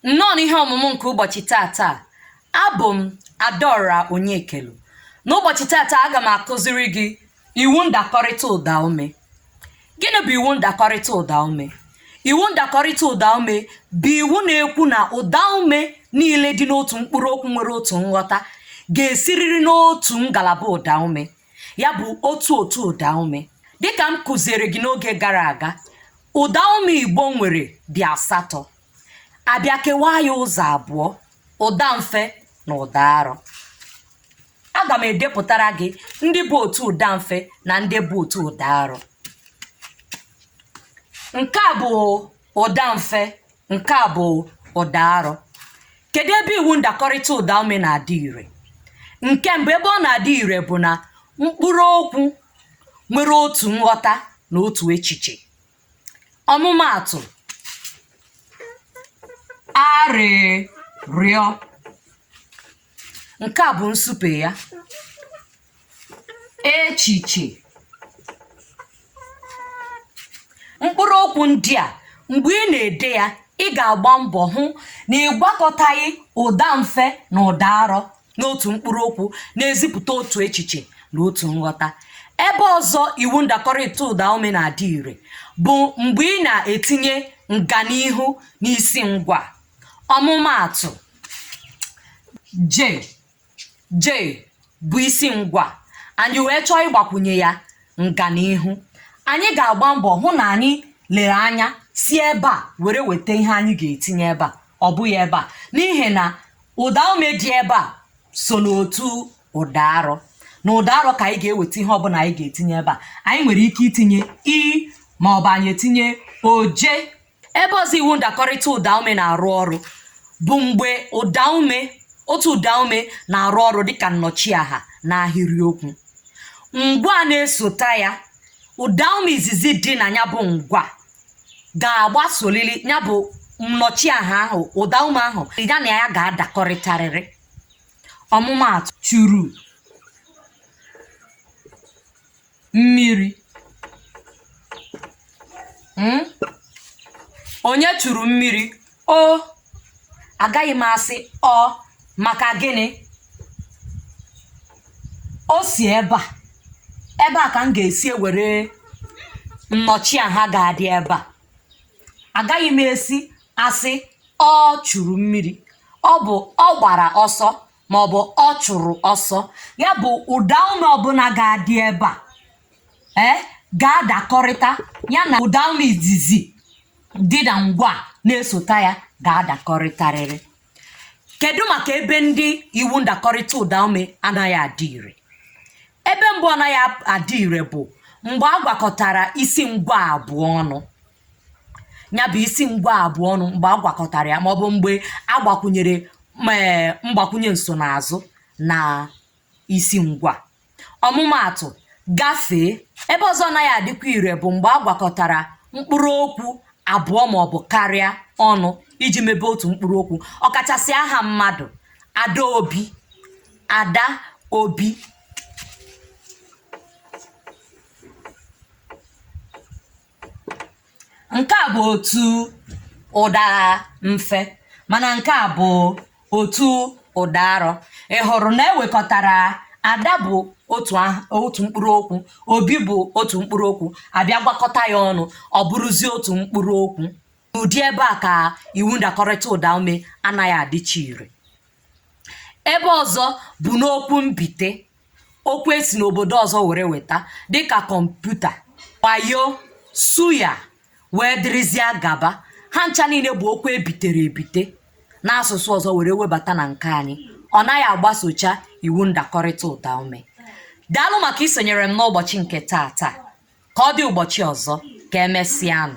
nnọọ n'ihe ọmụmụ nke ụbọchị tata abụ m adaora onyekelu n'ụbọchị tata aga m akụziri gị iwu ndakọrịta ụdaume gịnị bụ iwu ndakọrịta ụdaume iwu ndakọrịta ụdaume bụ iwu na-ekwu na ụdaume niile dị n'otu mkpụrụ okwu nwere otu nghọta ga-esiriri n'otu ngalaba ụdaume ya bụ otu otu ụdaume dịka m kụziere gị n'oge gara aga ụdaume igbo nwere dị asatọ a bịa kewaa ya ụzọ abụọ ụda mfe na ụda arọ aga m edepụtara gị ndị bụ otu ụda mfe na ndị bụ otu ụda arọ nke a bụ ụda mfe nke a bụ ụda arọ kedu ebe iwu ndakọrịta ụda ume na-adị ire nke mbụ ebe ọ na-adị ire bụ na mkpụrụ okwu nwere otu nghọta na otu echiche ọmụmaatụ arịrịọ nke a bụ nsupe ya echiche mkpụrụ okwu ndị a mgbe ị na-ede ya ị ga-agba mbọ hụ na ị gwakọtaghị ụda mfe na ụda arọ n'otu mkpụrụ okwu na-ezipụta otu echiche na otu nghọta ebe ọzọ iwu ndakọrịta ụda ume na-adị ire bụ mgbe ị na-etinye nganihu n'isi ngwaa ọmụmaatụ je je bụ isi ngwaa anyị wee chọọ ịgbakwunye ya nganihu anyị ga-agba mbọ hụ na anyị lere anya si ebe a were weta ihe anyị ga-etinye ebe a ọ bụghị ebe a n'ihi na ụda ume dị ebe a so n'otu ụda arọ na ụda arọ ka anyị ga-eweta ihe ọbụla anyị ga-etinye ebe a anyị nwere ike itinye i ma ọ bụ anyị etinye oje ebe ọzọ iwu ndakọrịta ụdaume na-arụ ọrụ bụ mgbe ụdaume otu ụdaume na-arụ ọrụ dịka nnọchiaha n'ahịrịokwu ngwaa na-esota ya ụdaume izizi dị na ya bụ ngwaa ga-agbasolili ya bụ nnọchiaha ahụ ụdaume ahụ ya na ya ga-adakọrịtarịrị ọmụmaatụ churu mmiri hmm? onye churu mmiri o agaghị m asị ọ maka gịnị o si ebe a ebe a ka m ga-esi ewere nnọchiaha ga-adị ebe a agaghị m esi asị ọ churu mmiri ọ bụ ọ gbara ọsọ ma ọ bụ ọ chụrụ ọsọ ya bụ ụda ume ọbụla ga-adị ebe a ee ga-adakọrịta ya na ụda ume izizi dị na ngwaa na-esota ya ga-adakọrịtarịrị kedu maka ebe ndị iwu ndakọrịta ụda ume anaghị adị ire ebe mbụ anaghị adị ire bụ mgbe a gwakọtara isi ngwaa abụọ ọnụ ya bụ isi ngwaa abụọ ọnụ mgbe a gwakọtara ya maọbụ mgbe a gbakwunyere ee mgbakwunye nsonaazụ na isi ngwaa ọmụmaatụ gafee ebe ọzọ ọ naghị adịkwa ire bụ mgbe a gwakọtara mkpụrụ okwu abụọ maọbụ karịa ọnụ iji mebe otu mkpụrụ okwu ọkachasị aha mmadụ adaobi adaobi nke a bụ otu ụda mfe mana nke a bụ otu ụda arọ ị hụrụ na e wekọtara ada bụ otu aha- otu mkpụrụ okwu obi bụ otu mkpụrụ okwu a bịa gwakọta ya ọnụ ọ bụrụzie otu mkpụrụ okwu ụdị ebe a ka iwu ndakọrịta ụda ume anaghị adịcha ire ebe ọzọ bụ n'okwu mbite okwu e si n'obodo ọzọ were weta dịka kọmputa wayo suya wee dịrịzịa gaba ha ncha niile bụ okwu e bitere ebite n'asụsụ ọzọ were webata na nke anyị ọ naghị agbasocha iwu ndakọrịta ụda ume daalụ maka isonyere m n'ụbọchị nke taa taa ka ọ dị ụbọchị ọzọ ka emesịanụ